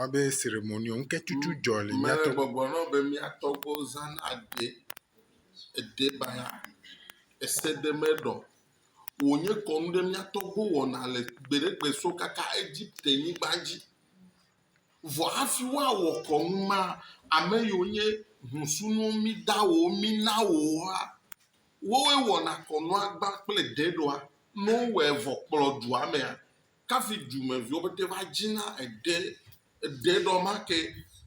woyɔna be ceremony o, ŋketutu dzɔ le mía to. Megbɔgblɔ na wo be mía tɔgbuiwo zãna aɖe, eɖe bana, esedemeɖɔ. Wònye kɔnu ɖe mía tɔgbuiwo wɔna le gbeɖegbe so kaka Egipte-nyigba dzi. Vɔ hafi woawɔ kɔnu ma, ame yiwo nye hũsunuwo mida wo, mina wo woa, wowoe wɔna kɔnua gbã kple deɖɔa. Ne wowɔe vɔ kplɔ dua mea, kafi dumeviwo pete va dzina eɖe, eɖe nɔ make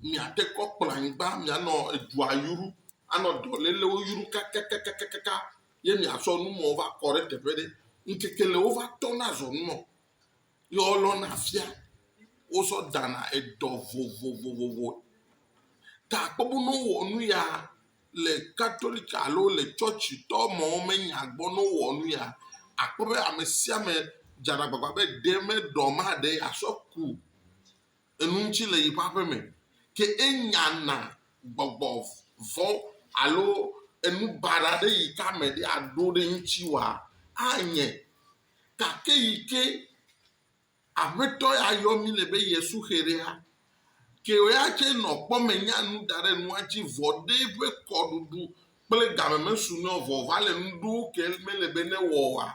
miate kɔ kplɔ anyigba mianɔ edua yru anɔ dɔ lelewo yru kakakakaka ye miasɔ nu mawo va kɔ ɖe teƒe ɖe. Ŋkeke le wova tɔna zɔ nu nɔ ye wolɔna fia wosɔ dana edɔ vovovovovo. Ta akpɔ be ne wowɔ nu ya le Katolik alo le tsɔtsitɔ mɔwo me nya gbɔ ne wowɔ nu ya, àkpɔ be ame sia ame dzana agbagba be ɖe meɖɔ maɖe yeasɔ ku enu ŋuti le yeƒe aƒe me. Ke enyana gbɔgbɔ vɔ̃ alo enu baɖa ɖe yi ke ame ɖe aɖo ɖe eŋuti wòa, anye. Gake yi ke Aƒetɔ ya yɔ mí le be ye suxerea ke ya tse nɔ kpɔ me nya nu da ɖe nua tsi vɔ ɖe ƒe kɔ ɖuɖu kple game me su nɔ vɔ va le nu ɖuwo ke me le be ne wɔ oa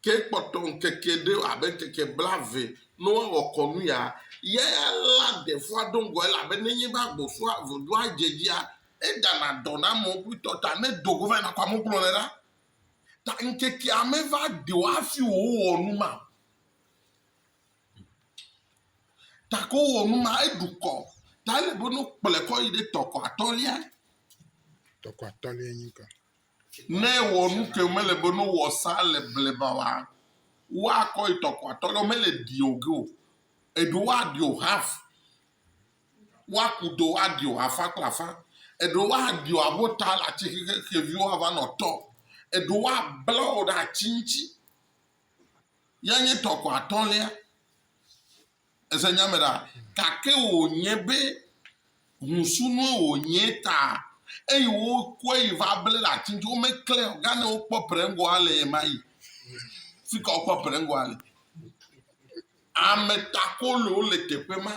ke kpɔtɔ ŋkeke ɖe abe ŋkeke bla ve no wa wɔ kɔ nu ya ya ya la de fua ɖo ŋgɔ ele abe ne nye va gbɔ sua vɔ ɖoa dze dzia e dana dɔ na mɔ kpli tɔ ta ne do go va na kɔ amu kplɔ le ɖa Ta ŋkekea meva ɖi o hafi wòwɔ nu ma. Ta ko wɔ nu ma, eɖu kɔ. Ta ele be no kplɔe kɔ yi ɖe tɔkɔ atɔ̃lia. Tɔkɔ atɔ̃lia nyi ka? Ne ewɔ nu ke mele be no wɔ sa le bleba wa, woakɔ yi tɔkɔ atɔ̃lia, mele ɖi o ge o. Eɖo woaɖi o hafi Woaku ɖewo aɖiɔ afã kple afã, eɖewo aɖiɔ abɔta le ati xexe xeviwo ava nɔ tɔ, eɖewo abla wo ɖe ati ŋuti. Ya nye tɔ ko atɔ̃lia. Èse nya me ɖa? Gake wònye be ŋusunue wònye ta eye wokɔe yi va ble ɖe ati ŋuti. Womeklãe o. Gane wokpɔ Prɛngɔa le ɣemaɣi. Fi ka wokpɔ Prɛngɔa le? Ametakolowo le teƒe ma,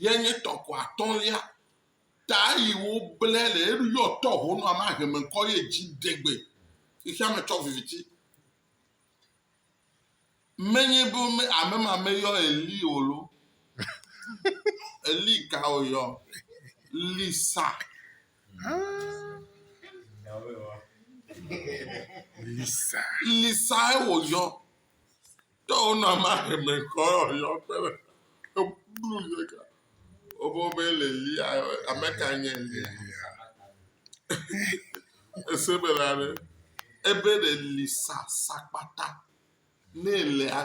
ye nye tɔkɔ atɔ̃lia ta yi woble le eɖo yɔ tɔ ho nɔ ma heme kɔ ye dzi degbe xexea me tsɔ viviti. Menye bo me ame ma me yɔ Eli o lo. Eli ka o yɔ? Lisa. Lisa. Lisa e wo yɔ. Tɔ wonɔ ame ahemɛ kɔ yɔ kpe me. Eblu yɔ ka. Wobo be le lia ame ka nye lia. Ese be la be ebe le li sa sakpata ne le a.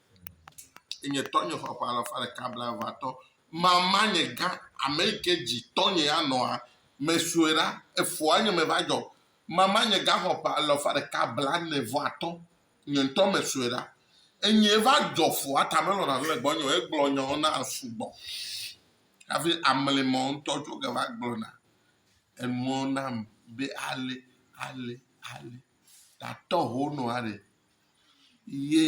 Nye tɔ nye xɔ ƒe alafa ɖeka blaeve atɔ. Mama nye gã, ame yi ke dzi tɔ nye ya nɔa, me sue ɖa, efɔa nye me va dzɔ. Mama nye gã xɔ ƒe alafa ɖeka blane vɔ atɔ, nye ŋutɔ me sue ɖa. Enyee va dzɔ fɔa ta me lɔ̃na nu le gbɔnye o, egblɔ nyawo na sugbɔ hafi amli me ŋutɔ dzo ge va gblɔ na enuwo nam be ale ale ale. Tatɔ ho nɔa ɖe. ye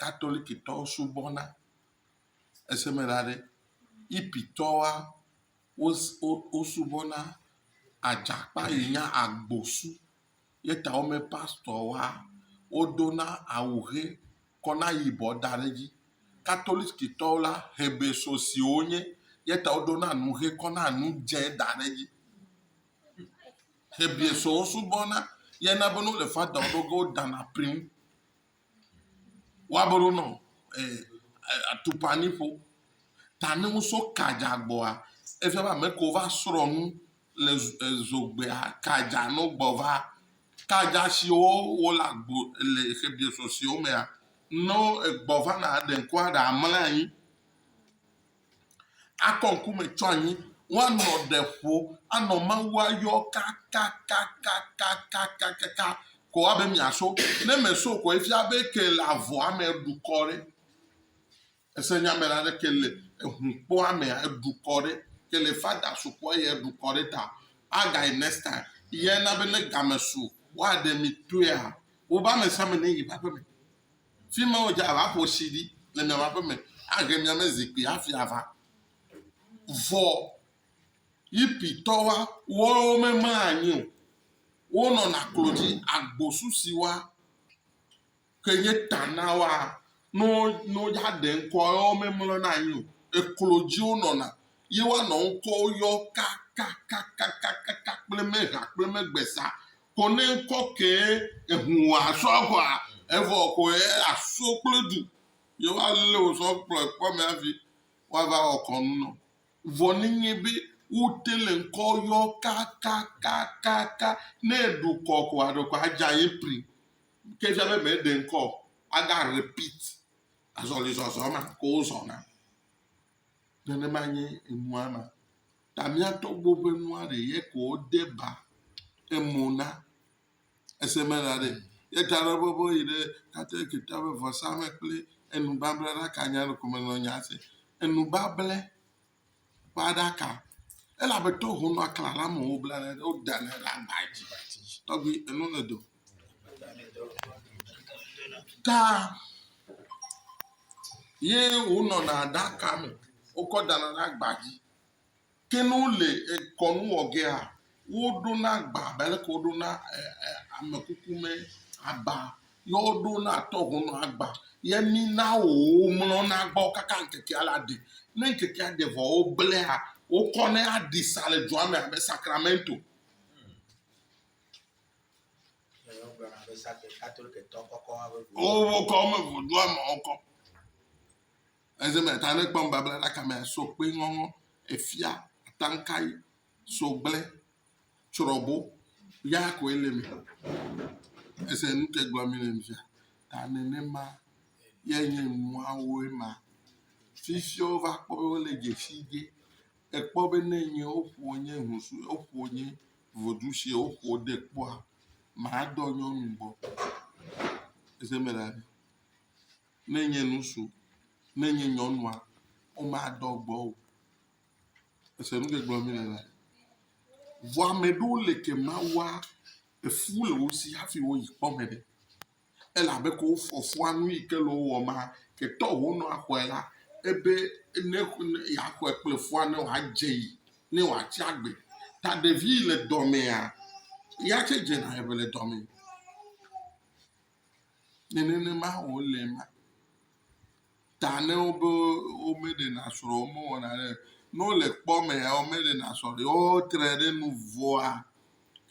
katolikitɔwo subɔna, ese me la ɖe, yipitɔwoa, wosubɔna adza kpa yi nye agbosu. Ye ta wonye pastɔwoa, wodona awu ʋe kɔ na yibɔ da ɖe edzi. Katolikitɔwo la, hebesosi wonye ye ta wodona nu ʋe kɔ na nu dze da ɖe edzi. Hebri sɔ wosubɔna ya na be no le fa dɔn ɖo ge wo dana prim. Wa be ɖo nɔ eh, atukpa ni ƒo. Ta ne wo so kadza gbɔa, efia be ame ko va srɔ nu le zogbea kadza no gbɔ va. Kadza siwo wo le agbo le Hebri sɔ siwo mea, no egbɔ va na ɖe ko aɖe amla anyi. Akɔ ŋku me tso anyi, woanɔ ɖe ƒo anɔ Mawua yɔ kakakakakakakaka ko abe miaso. Ne mèso ko efia be ke le avɔa me eɖu kɔ ɖe. Ese nya me la ɖe ke le ehukpɔa me eɖu kɔ ɖe. Ke le fada sukɔ ye eɖu kɔ ɖe ta. Agayi next time. Ye na be ne game su woaɖe mi toea wobe amesiame ne yi ƒe aƒeme. Fi ma wodze abe aƒo tsi ɖi le miaƒe aƒe me. Ahe miame zikpui hafi ava. Vɔ Yipitɔwoa, woawo memaa anyi o. Wonɔna klo dzi. Agbosu si woa ke nye ta na woa, ne wo, ne wodze aɖe ŋkɔ woa, woawo memlɔna anyi o. Eklo dzi wonɔna ye woanɔ ŋkɔwo yɔm kakakakakaka kple mehea kple megbezã Kɔnɛ ŋkɔ kɛ ehun wa sɔ kɔa evɔ kɔ yɛ aso kple du ye wa le wo sɔ kplɔ ekpɔ mɛ avi wa va wɔ kɔnu nɔ. Vɔ ne nye be wo te le ŋkɔ yɔ kakakakaka ne eɖu kɔ kɔa ɖe kɔ adza ye pri ke fia be mɛ ɖe ŋkɔ aga repeat azɔlizɔzɔ ma ke wo zɔna. Nenema nye enua ma. Ta miatɔgbo ƒe nua ɖe ye ko wode ba emo na. Ese me la ɖe ye ta ɖe bɔbɔ yi ɖe tatɔ Egipta ƒe vɔsa me kple enubabla ɖaka nya ɖe ko me nɔ nya se. Enubable ƒe aɖaka. Elabe to honɔ akla la me wobla ne ɖe woda ne ɖe agba dzi. Tɔgbi enu le do. Ta ye wonɔna aɖaka me wokɔ dana ɖe agba dzi. Ke ne wole kɔnu wɔ gea, woɖona agba abe aleke woɖona amekukume agba ye woɖona tɔhonɔ agba ye mina womlɔna gbɔ kaka ŋkekea la ɖe. Ne ŋkekea ɖe vɔ woblae wokɔnɛ aɖi sa le dua me abe sakramento. Wokɔ eme vodua me wokɔ. Eze me ta ne kpɔm Babla ɖaka me so kpe ŋɔŋɔ efia atankai so gble tsrɔbo ya ko ele me. Ese nu ke gblɔ mi le mi fia ta nenema ye nye nuawo ema. Fifiawo va kpɔ wo le dzesi ge ekpɔ be ne nye woƒo nye husu woƒo nye vodu si woƒo de kpɔa madɔ nyɔnu gbɔ. Ese me la. ne nye ŋutsu, ne nye nyɔnua, womadɔ gbɔ o. Ese nu ke gblɔm mele la? Vɔ ame ɖewo le ke Mawua efu le wo si hafi woyi kpɔ me ɖe. Elabe ko wofɔ fua nu yi ke le wowɔ ma, ke tɔ wonɔ axɔe la, ebe ne yeaxɔe kple fua ne wòadze yi, ne wòatsi agbe. Ta ɖevi le dɔmea, ya tse dzena eŋe le dɔme. Ne nenema wòle ema, ta ne wobe womeɖena srɔ̃ o, womewɔna ɖe o, ne wole kpɔ mea, womeɖena srɔ̃ ɖe o, wotre ɖe nu vɔ̃a,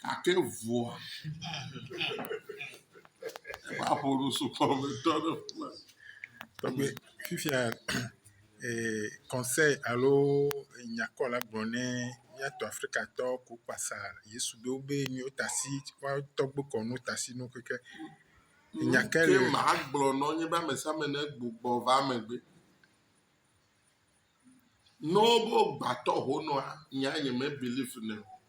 gake vɔ̃a, eƒe aƒo nu sukɔ me tɔ ɖe ƒua. Tɔgbe, fifia conseil alo nyakɔla gblɔ ne míato Afrikatɔ ku kpasa Yesu be wobe míwo tasi woawo tɔgbe kɔ no tasi no keke. Nya ke le. Ke maa gblɔ nɔ nye be amesiame ne gbugbɔ va megbe. Nɔ wo gbatɔ ho nɔa, nya nye me believe nɛ.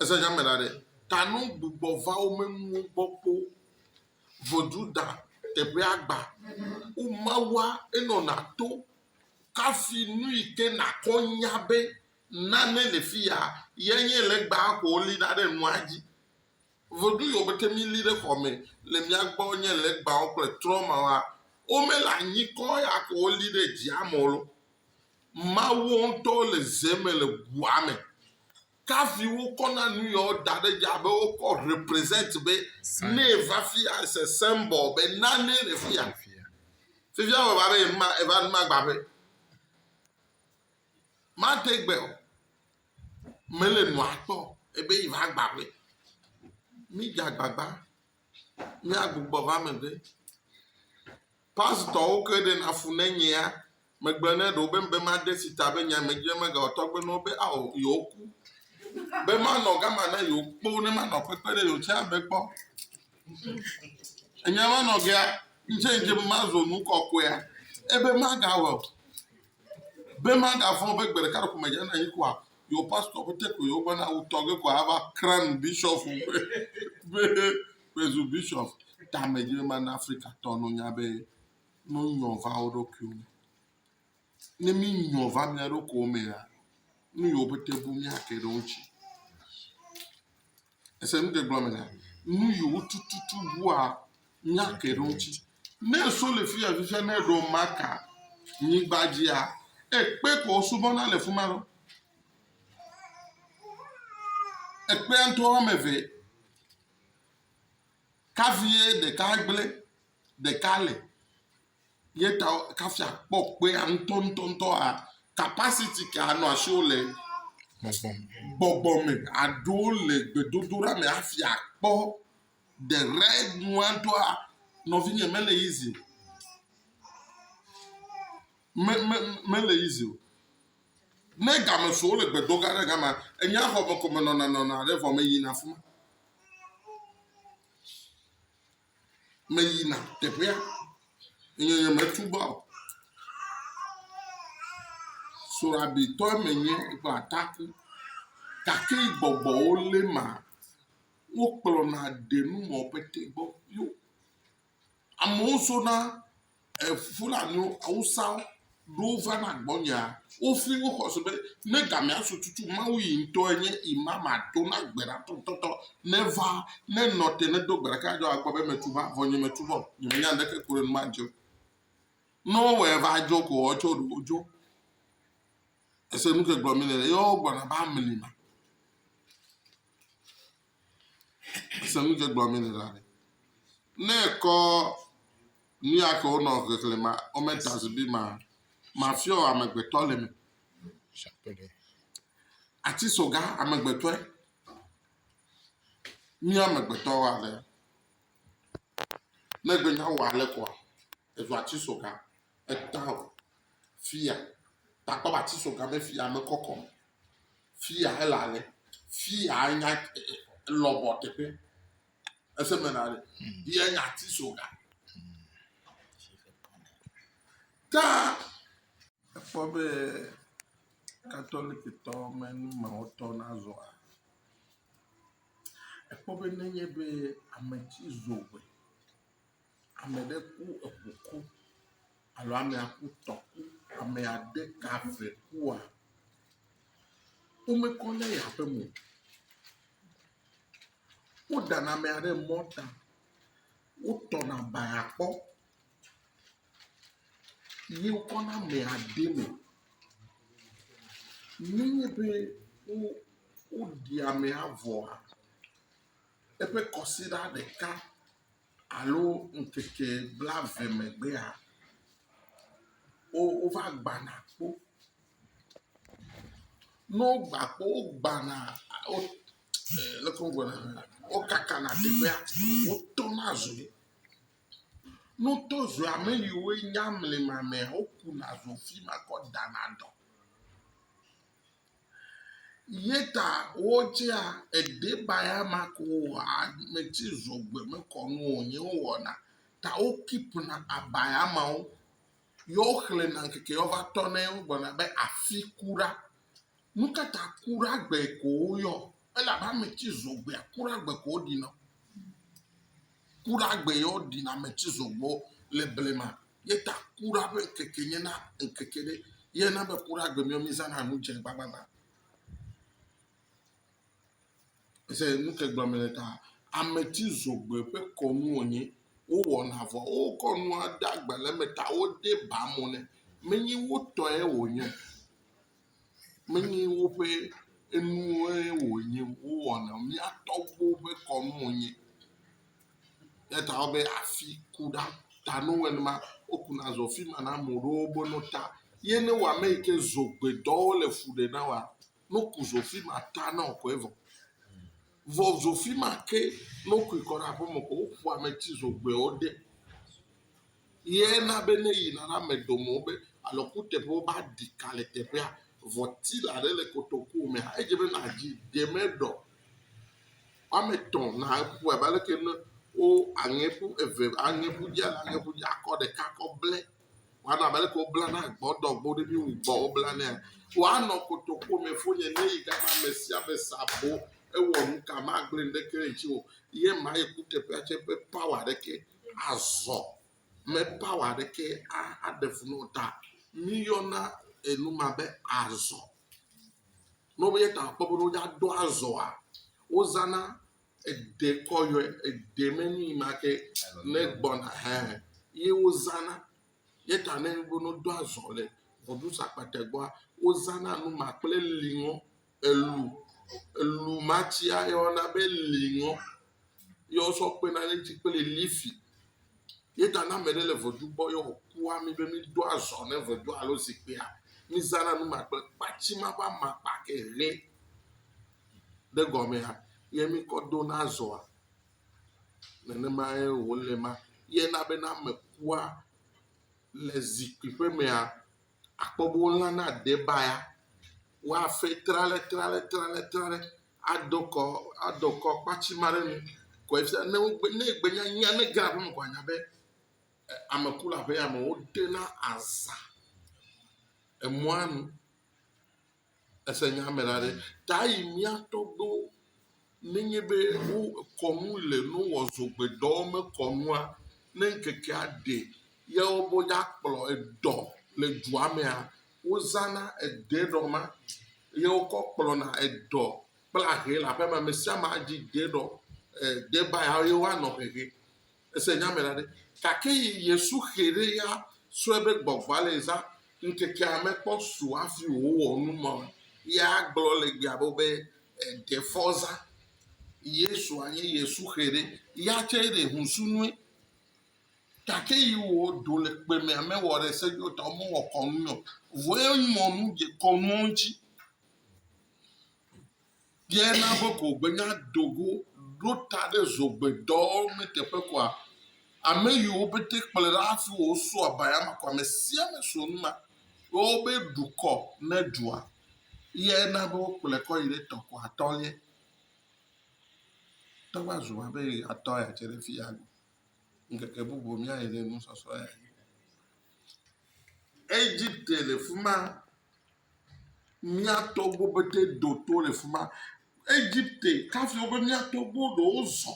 Ese nya me la ɖe, ta no gbugbɔ va wo menuwo gbɔ kpo. Vodu da teƒea gba. Wo mawua enɔ na to kafi nu yi ke na kɔ nya be nane le fi ya ye nye legba ko wo li na ɖe nua dzi. Vodu yi wo mete mi li ɖe xɔ me le mia gbɔ nye legbawo kple trɔmawa. Wo me le anyi kɔ ya ko wo li ɖe dzia me lo. Mawu ŋutɔ le ze me le ʋua me. Kafi wokɔ na nu ya wo da ɖe dza be wokɔ represent be ne va fi ya se symbol be nane le fi ya. Fifia me va be ma eva nu ma gba be ma te gbe o. Me le nu atɔ ebe yi va gba be mi dza gbagba mi agbugbɔ va me be. Pasitɔwo ke ɖena fu ne nyea megblɔ ne ɖewo be be made si ta be nya medzɔe megawɔ tɔgbe ne wo be ao yewoku, be manɔ gama na yewo kpoo ne manɔ kpekpe ɖe yewo tsɛ be kpɔ. Enya ma nɔ gea, ŋtsɛ ŋdze be mazu nu kɔkɔea, ebe magawɔ, be magavɔ̃ be gbeɖeka ɖeko medzana anyi koa, yewo pasitɔwo pɛtɛ ko yewo gbɔna wutɔge ko ava kran bishɔfu be Presubishop tamedzrema na Afrikatɔ no nya be no nyɔ va wo ɖokuiwo me. Ne mi nyɔ va mia ɖokuiwo mea, nu yiwo pete bu mia ke ɖe wo ŋuti. Ese nu ke gblɔ me na nu yiwo tututu bua mia ke ɖe wo ŋuti. Ne so le fi ya fifia ne ɖo maka nyigba dzia, ekpe ko subɔna le fuma ɖo. Ekpea ŋutɔ wɔme eve Kafi ye ɖeka gblẽ, ɖeka le. Ye ta kafi akpɔ kpea ŋutɔŋutɔŋutɔ a kapasiti ke anɔ asiwo le gbɔgbɔ me aɖo le gbedodoɖa me hafi akpɔ the right nua doa, nɔvinye mele easy o. Me, me, mele easy o. Ne ga me sɔ wole gbe dom ɖa ɖe gama, enyea xɔ me ko me nɔna nɔna ɖe vɔ me yina afima. Me yina teƒea. Enye nye me tu ba o. Sorabi tɔe me nye eƒe ataku. Gake gbɔgbɔwo le ma. Wo kplɔna ɖe nu mɔ pete gbɔ. Yo. Amewo sona Fulaniwo, Awusawo ɖo va na gbɔnyea, wofli wo xɔse be, ne gamea su tutu Mawu yi ŋutɔ enye ima mato na gbe ɖa tɔtɔtɔ. Ne va, ne nɔ te, ne do gbe ɖeka adzɔ akpɔ be metu va, vɔ nye metu vɔ. Nye menya ŋɖeke ku ɖe nu ma ŋutsi o. Ne wowɔe va dzo ko woawo tsɛ woɖo wodzo. Ese nu ke gblɔ mi le, ye wo gblɔna be amli ma. Ese nu ke gblɔm mele la ɖe. Ne ekɔ nu ya ke wonɔ xexlẽ ma, wome ta zibi ma, mafiɔ amegbetɔ le me. Ati soga amegbetɔe. Mí amegbetɔ wa le. Ne gbenya wɔ ale kɔa, ezu ati soga. Eta o. Fia, ta akpɔ be ati so game fia mekɔ kɔ o. Fia ele ale. Fia nya lɔbɔ teƒe. Ese me na ɖe. Ye nya ati so ga. Ta ekpɔ be katolikitɔ me nu me wotɔ na zɔa. Ekpɔ be nenye be ame ci zo gbe Ame ɖe ku eŋu ku alo amea ku tɔ ku ame ade ka eve kua, womekɔ ne yi aƒe me o. Wodana amea ɖe mɔta. Wotɔna baya kpɔ ye wokɔna amea de eme. Nenye be wo woɖi amea vɔa eƒe kɔsiɖa ɖeka alo ŋkeke blaeve megbea, wo wova gbana kpo. Ne wogbã kpo wogbãna wo e leke wogblɔe ɖo la wokakana teƒea wotɔna zo. Ne wotɔ zoa ame yiwo nya mlimamea wokuna zo afi ma kɔ dana dɔ. Yeta wotsea edebaya ma ko wɔa ame tsi zogbe mekɔ nu o nye wowɔna ta wo keep na abaya mawo yɔ xle na ŋkeke yɔ va tɔ nɛ wo gblɔna be afi kuɖa. Nukata kuɖa gbe ko wo yɔ elabe ame tsi zogbea kuɖa gbe ko wo ɖina. Kuɖa gbe yɔ ɖina ame tsi zogbewo le blema. Ye ta kura ƒe ŋkeke nye na ŋkeke ɖe. Ye na be kura gbe mía mízãna nu dze gbagbagba. Ese nu ke gblɔm mele ta. Ametsizogbui ƒe kɔnu wònye. Wowɔna vɔ wokɔ nua de agbalẽ me ta wode ba mo nɛ. Menye wotɔe wònye o. Menye woƒe enuwoe wònye wowɔna o. Mía tɔgbuiwo ƒe kɔnu wònye. Eya ta wobe afi ku ɖa ta ne wowɔe nenema wokuna zɔ afi ma na ame ɖewo be no ta ye ne wɔ ame yi ke zogbedɔ wole fu ɖem na woa no ku zo afi ma ta na wò koe vɔ. Vɔ zo afi ma ke ne wokui kɔ ɖe aƒeme ko woƒo ametsi zogbeawo de. Ye na be ne yina ɖe ame dome wo be alɔ kuteƒe wo ba ɖi ka le teƒea vɔ tila ɖe le kotoku me hã edze be na dzi de me ɖɔ. Woame tɔ na ƒu abe ale ke ne wo aŋɛ ƒu eve aŋɛ ƒu dzi alo aŋɛ ƒu dzi akɔ ɖeka kɔ ble wɔna abe ale ke wo bla na gbɔdɔ gbɔ ɖe mi wu gbɔ wo bla nɛ. Wa nɔ kotoku me fo nye ne yi gama ame sia ame sa bo ewɔ nuka ma gble ŋɖe ke ŋuti o. Ye ma ye kuteƒea tse ƒe power ɖe ke Azɔ me power ɖeke aɖe fu na wo ta. Míyɔna enu ma be azɔ. Ne wobe yeta akpɔ be woɖo aɖo azɔa, wozãna eɖe kɔ yɔe. Eɖe me nu yi ma ke ne gbɔna hã ye wozãna. Ye ta ne wobe woɖo azɔ le Voduzakpatɛ gbɔa, wozãna nu ma kple liŋɔ. Elu, elu ma tsia ye woyɔna be liŋɔ ye wosɔ kpena ɖe eŋuti kple lifi ye ta ne ame ɖe le ŋedu gbɔ ye wòku wa mí be mído azɔ ne ŋedua alo zikpuia, mízãna nu ma kple kpatsi ma ƒe amakpa ke ʋe ɖe gɔmea ye míkɔ dona azɔa. Nenemae wòle ema. Ye na be ne ame kua le zikpui ƒe mea. akpɔ be wolã na debaya, woafɛ tralɛtralɛtralɛtralɛ adɔ kɔ adɔ kɔ kpatsi ma ɖe nu kɔe fia ne wogbe ne egbe nya nya ne ege ɖe aƒeme ko anya be e ame ku le aƒea me woɖe na aza emɔa nu. Ese nya me la ɖe? Ta yi mía tɔgbuiwo nenye be wo kɔ nu le nu wɔ zogbedɔ mekɔ nua ne ŋkekea ɖe ye wobe ya kplɔ edɔ le dua mea wozana ede ɖɔ ma ye wokɔ kplɔna edɔ kple ahe le aƒeme. Ame sia ame adi de ɖɔ e de ba ya ye woanɔ hehe. Ese nya me la ɖe? Gake yi Yesu xe ɖe ya sɔe be gbɔgbɔa le zã ŋkekea mekpɔ su hafi wòwɔ nu ma o. Ya gblɔ le gbea bo be, Eɖe fɔ zã. Yesua nye Yesu xe ɖe ya tsɛ ɖe ŋusu nue. Gake yi wò do le kpe mea me wɔ ɖe se yo tɔ mewɔ kɔnu nyo. Vɔe mɔ nu dze kɔnuwo ŋuti. Ye na be ko be nya do go ɖo ta ɖe zogbe dɔ me teƒe koa? Ame yiwo bete kplɔe ɖa hafi wɔ wo so abaya ma ko ame sia ame so nu ma be wobe ɖukɔ ne ɖua ye na be wo kplɔe kɔ yi ɖe tɔ ko atɔ ye. Tɔ va zu ma be atɔ ya tse ɖe fi ya ŋkeke bubu mía yi ɖe nusɔsɔ ya. Egipte le fi ma. Mía tɔgbuiwo pete do to le fi ma. Egipte kafi wobe mía tɔgbuiwo ɖewo zɔ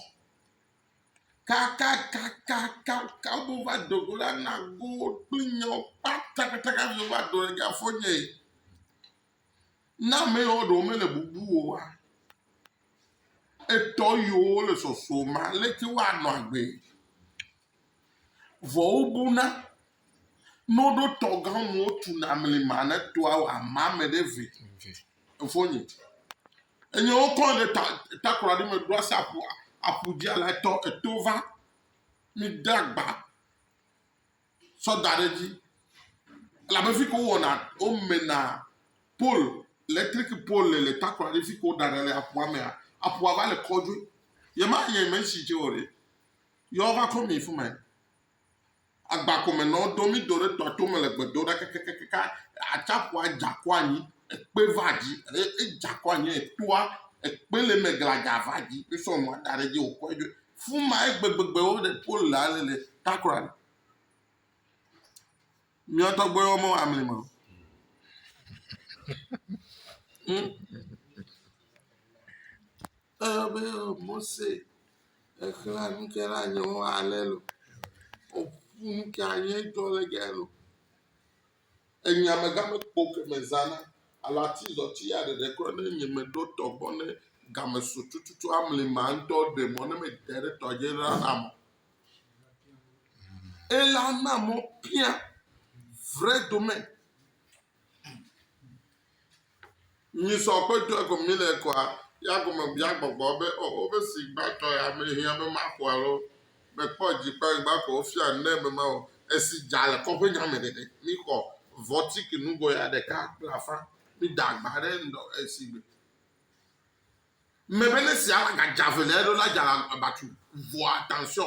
kakakakaka wo va do go la na go kple nyawo kpatapata kafi wova do ɖe ga fɔ nye. Ne ame yawo ɖewo mele bubu o oa, etɔ yiwo le sɔsɔ ma leke woanɔ agbee? Vɔ wobuna no ɖo tɔ gã mo tu na mli ma ne to awo ama me ɖe ve. Efo nyi. Enye wo kɔ ɖe ta ta kura ɖe me ɖo asa apu apu dzi ala tɔ eto va mi da gba sɔ da ɖe dzi. La be fi ko wɔ na o me na pol electric pol le le ta kura ɖe fi ko da ɖe le apu amea apu ava le kɔ dzi. Yema yeme si dzi o ɖe. Yɔ va ko mi fima yi. Agba ko me nɔ do mi do ɖe tɔa to me le gbe do ɖa kakakaka. Atsa ƒua dza kɔ anyi. Ekpe va dzi. Edza kɔ anyi etoa. Ekpe le me gladza va dzi. Wo sɔ nua da ɖe dzi wo kɔe ɖoe. Fuma ye gbegbegbe wo le po le ale le takra ɖe. Mia tɔgbe wo me wa mli ma. Hmm? Ebe Mose exlẽ nu ke na nyewo ale lo. Woƒu nu ke anye dɔ le ge lo. Enya me ga me kpo ke me zã na. Ala ti zɔ ti ya ɖeɖe kɔ ne nye me ɖo tɔ gbɔ ne ga me so tututu amli ma ŋtɔ ɖe mɔ ne me de ɖe tɔ dzi la na mɔ. Ela na mɔ pia vre do me. Nyi sɔ kpe ɖo ego mi le kɔa ya gome bia gbɔgbɔ be o o be si gba tɔ ya me hia be ma kɔa lo me kpɔ dzi kpa gba kɔ o fia ne me ma o esi dza le kɔ ƒe nya me ɖe ɖe mi kɔ vɔ ti ki nu go ya ɖeka kple afã mi da gba ɖe nɔ esi gbe me be ne sia ga dza ve le eɖo la dza la abatu vɔa tansɔ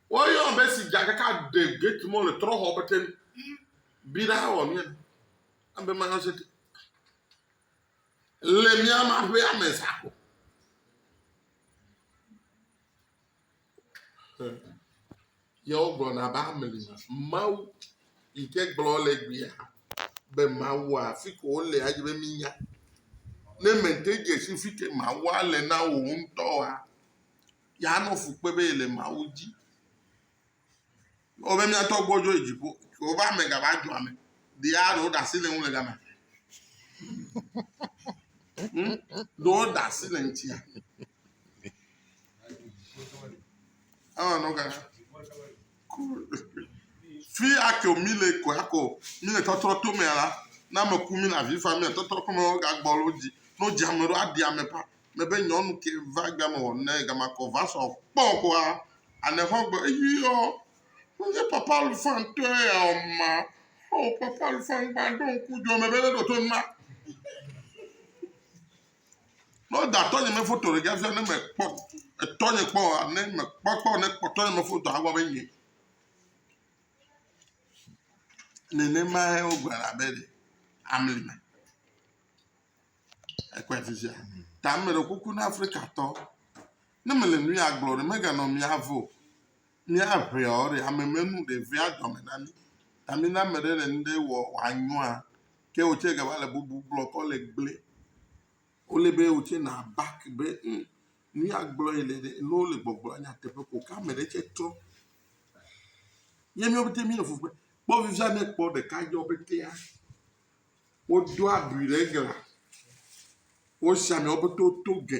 Woyɔ ame si dza ɖeka ɖe gate mɔ le trɔxɔ be ten bi ɖa wɔ mía abe ma yɔ se te. Le mía ma ƒe ame sako. Yewo gblɔna be ame li Mawu yi ke gblɔ le gbea be Mawu afi ko wole adze be minya. Ne mente dze si fi ke Mawu le na wò ŋutɔ wa. Yeanɔ fu kpe be yele Mawu dzi. Ewɔ be mía tɔ gbɔdzɔ yi dziƒo. Yehowa ƒe ame gava dzɔa me. Ɖea ɖewo ɖe asi le ŋu le gama. Hmm? Ɖewo ɖe asi le ŋutia. Ewɔ nɔ gana. Fi ake mi le ko ako mi le tɔtrɔ to mea la, ne ame ku mi le avi fam mia tɔtrɔ ko me wo ga gbɔ lo dzi. Ne wo dzi ame ɖo aɖi ame ƒa me be nyɔnu ke va gbe ame wɔ ne gama kɔ va sɔ kpɔ koa ane xɔ gbe eyi yɔ. Wo nye papa lu fan tɔe ya o ma. O papa lu fan gba ɖo ŋku djo me be ne ɖo to nma. Ne woda tɔnye me foto ɖe fia ne mekpɔ etɔnye kpɔ oa, ne mekpɔ kpɔ ne kpɔ tɔnye me foto agblɔ be nye. Nenemae wogblɔ abe ɖe amli me. Ekpɔe afi sia. Ta meɖe kuku na Afrikatɔ. Ne mele nu ya gblɔ ɖe meganɔ mía vo. Mía ʋea ɔ ɖe ame menu ɖe vea dɔme na mí. Ta mina ame ɖe le nu ɖe wɔ wòanyɔa ke wotse gava le bubu gblɔ kɔ le gble. Wole be wotse na back be hum nu ya gblɔ yi le ɖe ne wole gbɔgblɔ nyateƒe ko ke ame ɖe tse trɔ. Ye míawo pɛtɛ míele fu kpem. Kpɔ fifia ne ekpɔ ɖeka dzɔ pɛtɛa wodo abi ɖe glã. Wosi amewo pɛtɛ woto ge.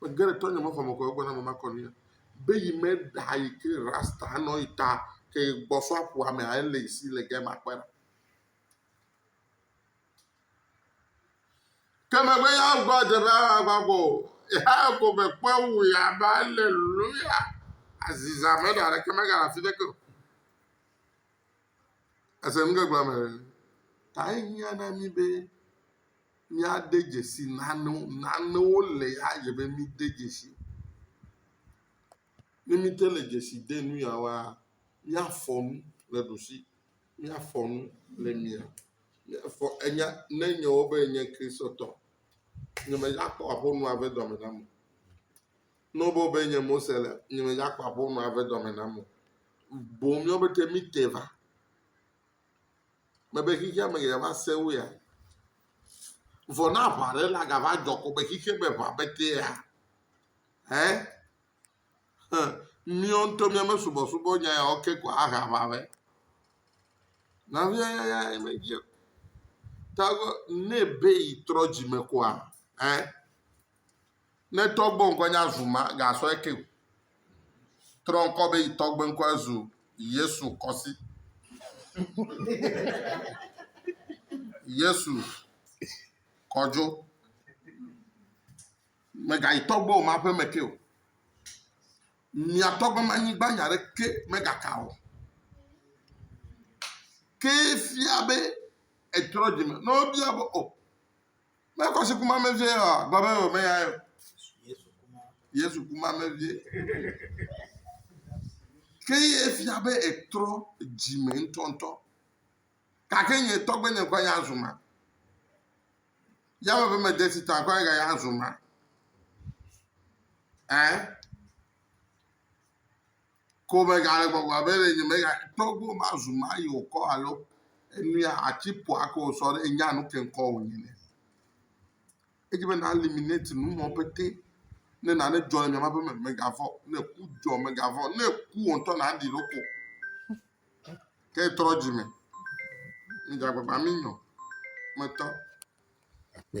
Megé ɖe tɔnyɛ me xɔme kɔ egbɔ na mama kɔ nuya be yi me ɖa yi ke rasta nɔ yi ta ke yi gbɔ sɔ aƒua me ayi le yi si le gɛ ma kpe ɖa. Ke me be ya gbɔ dze be ya gba gbɔ o. Ya ko me kpɔ wu ya ba le luya aziza me ɖa ɖe ke me ga afi ɖe ke. Ese nu ke gblɔ me ɖe. Ta yi nya na mi be. míade dzesi nanewo, nanewo le ya dze be míde dzesi. Ne míte le dzesi de nu ya woa, míafɔ nu le ɖusi, míafɔ nu le mia, míafɔ enya ne enye wɔ be enye Kristotɔ. Nye me dza kpɔ aƒonɔa ƒe dɔme nam o. Ne wɔ be wɔ be enye Mose le, nye me dza kpɔ aƒonɔa ƒe dɔme nam o. Boŋ míawo pɛtɛ míte va. Mebe xexea me geɖe va sẽ wo ya. Vɔ ne aʋa ɖe la gava dzɔ ko be xexea me ʋa be tea, hɛ, hɛ, míawo ŋutɔ míame subɔsubɔ nya yawo ke ko ahe aʋa vɛ. Nɔvia yaya ye medzi o. Ta ne be yi trɔ dzime koa, hɛ, Ne tɔgbe ŋkɔe nye azu ma, gasɔ eke o. Trɔ ŋkɔ be yi tɔgbe ŋkɔe zu Yesu kɔsi. Yesu kɔdzo. Megayi tɔgbe o ma ƒe me ke o. Mia tɔgbe ma nyigba nya ɖe ke megaka o. Ke fia be etrɔ dzime. Ne wobia be o. Oh, Ne ekɔ si ku ma me vie ɔa, gblɔ be wòme ya o. Yesu ku ma me vie. Ke ye fia be etrɔ dzime ŋutɔŋutɔ. Gake nye tɔgbe nye ŋkɔ ya zu ma. Yame ƒe mede si ta ŋkɔ ya ya zu ma. Ɛɛ. Ko megale gbɔgblɔ abe ɖe nye mega tɔgbo mazu mayi wòkɔ alo enuya atsi ƒoa ko wòsɔ ɖe nya nu ke ŋkɔ wò nyi ne. Edzi be na eliminate nu mɔ pete. Ne nane dzɔ le miama ƒe me, megavɔ. Ne ku dzɔ, megavɔ. Ne ku wò ŋutɔ na ɖi ɖoko. Ke trɔ dzi me. Mi dza gbagba mi nyɔ. Metɔ. Akpe.